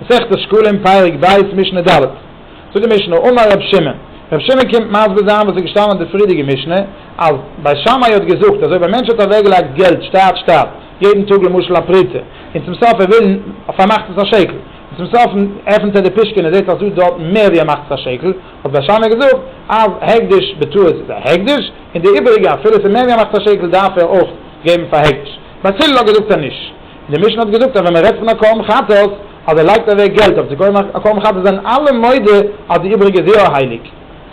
מסכת שקלים פרק ב' משנה ד', זאגט די משנה, אמר ר' שמעון, ר' שמעון קומט מסביר זיין וואס איז געשטאנען אין די פרידיגע משנה, אז בית שמאי האט געזאגט אז אויב א מענטש האט אוועק געלייגט געלט שטאט שטאט יעדן טאג למשל א פרוטה, און צום סוף ער וויל פארמאכט עס א שקל, און צום סוף עפנט ער די פישקען און זעט אז דא דארט מער ווי ער מאכט עס א שקל, האט בית שמאי געזאגט אז הקדש בטעות איז א הקדש, און די איבעריגע אפילו עס איז מער ווי ער מאכט א שקל דארף ער אויך געבן פאר הקדש, בית הלל האט געזאגט אז נישט. די משנה האט געזאגט אז ווען מ'רעדט פון א קרבן חטאת אז ער לייגט אוועק געלט אויף צו קויפן א קרבן חטאת זענען אלע מודה אז די איבריגע זירא הייליג.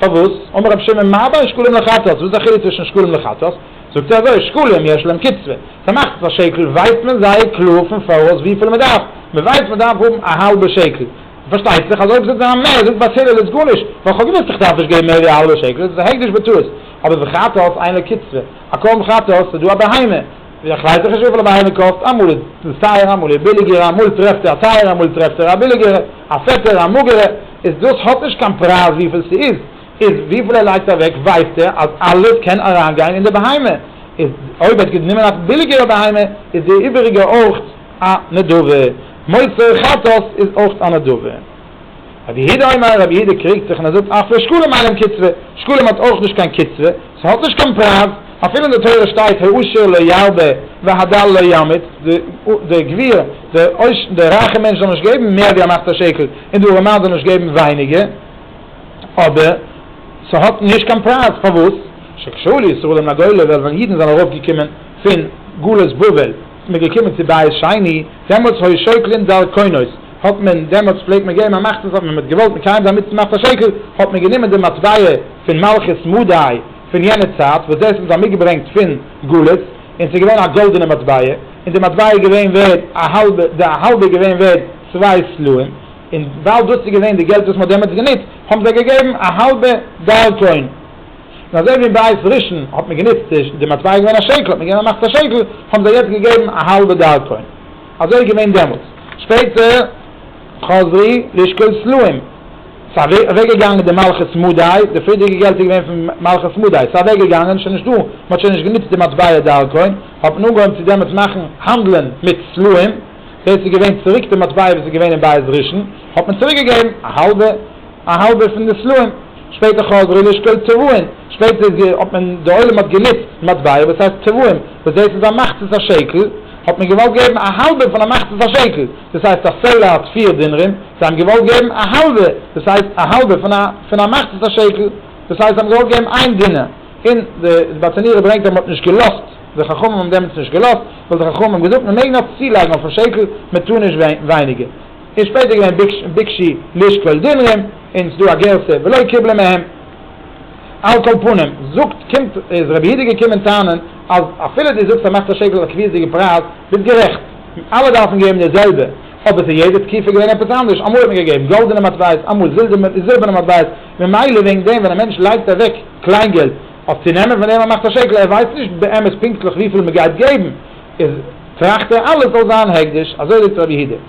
פארוואס? אמר רבי שמעון מה בין שקלים לחטאת, וואס איז די חילוק צווישן שקלים לחטאת? זאגט ער אזוי, שקלים יש להם קצבה, ס'מאכט עס א שקל, ווייסט מען זייער קלאר פון פאראויס וויפיל מ'דארף, מ'ווייסט מ'דארף האבן א האלבע שקל, פארשטייט זיך אז אויב זאגט זיי מער, זאגט ביי הלל איז גארנישט, ווייל כ'האב געוואוסט איך דארף נישט געבן מער ווי א האלבע שקל, איז עס א הקדש בטעות, אבער בחטאת אין לקצבה, א קרבן חטאת, ס'איז דא א בהמה, איך ווייס דאך נישט וויפיל א באהבה קאסט, אמאל איז דאס טייער אמאל איז ביליגער, אמאל טרעפט ער א טייערע אמאל טרעפט ער א ביליגערע, א פעטערע א מאגערע, איז דאס האט נישט קיין פרייז וויפיל ס'איז, איז וויפיל ער לייגט אוועק ווייסט ער אז אלעס קען אריינגיין אין די בהמה, איז אויב ער האט גענומען א ביליגערע בהמה איז די איבעריגע אויך א נדבה, מוסר חטאת איז אויך א נדבה. רבי יהודה אומר, רבי יהודה קריגט זיך און ער זאגט אפי' שקלים אינם קצבה, שקלים האט אויך נישט קיין קצבה, ס'האט נישט קיין פרייז, אפילו אין די תורה שטייט העושר לא ירבה והדל לא ימעיט, די גביר, די רייכע מענטש זאל נישט געבן מער ווי א מחצית שקל און די ארעמאן זאל נישט געבן ווייניגער, אבער ס'האט נישט קיין פרייז, פארוואס? שכשעלו ישראל מן הגולה, ווייל ווען אידן זענען ארויף געקומען פון גלות בבל, מ'געקומען צו בית שני, דעמאלטס היו שוקלים דער קונות, האט מען דעמאלטס פלעגט מען געבן א מאכט אז אויב מען האט געוואלט מקיים זיין מצוה מאכט א שקל, האט מען גענומען די מטבע פון מלכות מדי פון יענע צייט וואס דאס האבן זיי מיטגעברענגט פון גלות, און ס'איז געווען א גאלדענע מטבע, און די מטבע איז געווען ווערד א האלבע, די א האלבע איז געווען ווערד צוויי סלעים, און ווייל דאס איז געווען די געלט וואס מען האט דעמאלטס גענוצט, האבן זיי געגעבן א האלבע דארקוין. און אזוי ווי אין בית ראשון האט מען גענוצט, די מטבע איז געווען א שקל, האט מען געגעבן א מאכט א שקל, האבן זיי יעצט געגעבן א האלבע דארקוין. אזוי איז געווען דעמאלטס. שפעטער חזרי לשקול סלעים. ס'איז אוועקגעגאנגען די מלכות מדי, די פריערדיגע געלט איז געווען פון מלכות מדי, ס'איז אוועקגעגאנגען, שוין נישט דא, מ'האט שוין נישט גענוצט די מטבע דרכון, האט מען אנגעהויבן צו דעמאלטס מאכן האנדלען מיט סלעים, דאס איז געווען צוריק די מטבע וואס איז געווען אין בית ראשון, האט מען צוריקגעגעבן א האלבע. א האלבער פון די סלעים, שפעטער חזרו לשקול צבועין, שפעטער איז גע, האט מען, די עולם האט גענוצט מטבעות וואס הייסט צבועים, וואס דאס איז א מחצית השקל, האט מען געוואלט געבן א האלבער פון א מחצית השקל, דאס הייסט א סלע האט פיר דינרים, זיי האבן געוואלט געבן א האלבע, דאס הייסט א האלבער פון א, פון א מחצית השקל, דאס הייסט זיי האבן געוואלט געבן איין דינר, און די זבאטענירער ברענגט אז מען האט נישט געלאזט, די חכמים האבן דעמאלטס נישט געלאזט, ווייל די חכמים האבן געזאגט מען מעג נאר צולייגן אויפן שקל, מען טאר נישט ווייניגער. און שפעטער געווען ביקשי לשקול דינרם און סדא א גרסה ולא קיבלו מהם, על כל פנים זאגט קומט איז רבי הידי געקומען טענה'ן אז אפילו די זאגסט אז מאכט א שקל א קביעות'דיגע פרייז ביסט גערעכט אלע דארפן געבן די זעלבע אבער סאיז יעדע תקופה געווען עפעס אנדערש אמאל האט מען געגעבן גאלדענע מטבעות אמאל זילבערנע מטבעות ממילא וועגן דעם ווען א מענטש לייגט אוועק קליינגעלט אויף צו נעמען פון דעם א מאכט א שקל ער ווייסט נישט באמת פונקטליך וויפיל מען גייט געבן איז טראכט ער אלעס זאל זיין הקדש אזוי זאגט רבי הידי.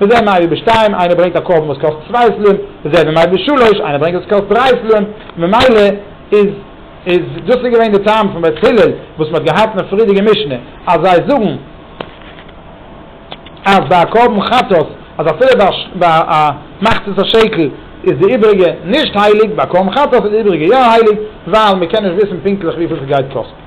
וזה מהאי בשתיים, איינער ברענגט א קרבן וואס קאסט צוויי סלעים, וזה מהאי בשלוש, איינער ברענגט וואס קאסט דריי סלעים, ממילא איז איז דאס איז געווען די טעם פון בית הלל וואס מען האט געהאט אין א פרידיגע משנה אז זיי זאגן אז ביי א קרבן חטאת אז אפילו ביי ביי א מחצית השקל איז די איבריגע נישט הייליג, ביי א קרבן חטאת איז די איבריגע יא הייליג ווייל מען קען נישט וויסן פונקטליך וויפיל ס'גייט קאסטן.